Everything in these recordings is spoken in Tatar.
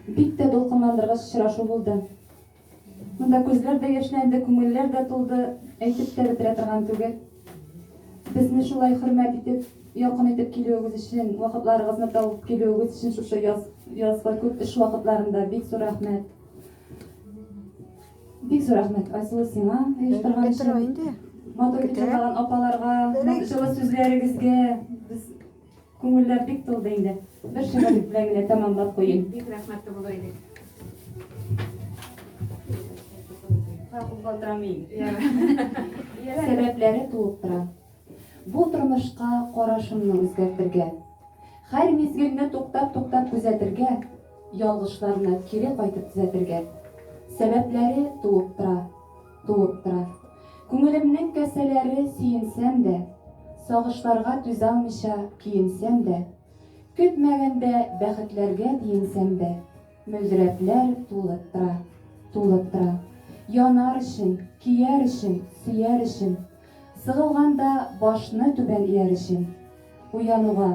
Бик тә дулкынландыргыч очрашу булды. Монда күзләр дә яшьләнде, күңелләр дә тулды, әйтеп тә бетерә торган түгел. Безне шулай хөрмәт итеп, якын итеп килүегез өчен, вакытларыгызны табып килүегез өчен шушы яз, язгы күп эш вакытларында бик зур рәхмәт. Бик зур рәхмәт, Айсылу, сиңа оештырган өчен. Матур итеп җырлаган апаларга, җылы сүзләрегезгә. Без Күңелләр бик тулды инде. Бер шигырь белән генә тәмамлап куйыйм. Бик рәхмәтле булыр иде. Сәбәпләре туып тора. Бу тормышка карашымны үзгәртергә, хәр мизгелне туктап-туктап күзәтергә, ялгышларны кире кайтып төзәтергә. Сәбәпләре туып тора. туып тора. Күңелемнең касәләре сөенсәм дә, Сагышларга түзалмыйча көенсәм дә, Көтмәгәндә бәхетләргә диенсәм дә, Мөлдерәпләр тулып тора, тулып тора. Янар өчен, көяр өчен, сөяр өчен, Сыгылганда башны түбән ияр өчен, Уянуга,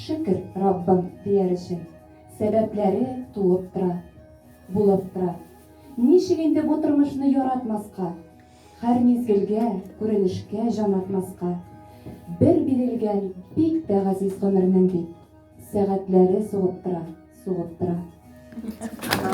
шөкер, Раббым, дияр өчен, Сәбәпләре туып тора, булып тора. Ничек инде бу тормышны яратмаска? Хәр мизгелгә, күренешкә җан атмаска. Бер бирелгән бик тә газиз гомернең бит. Сәгатьләре сугып тора, сугып тора.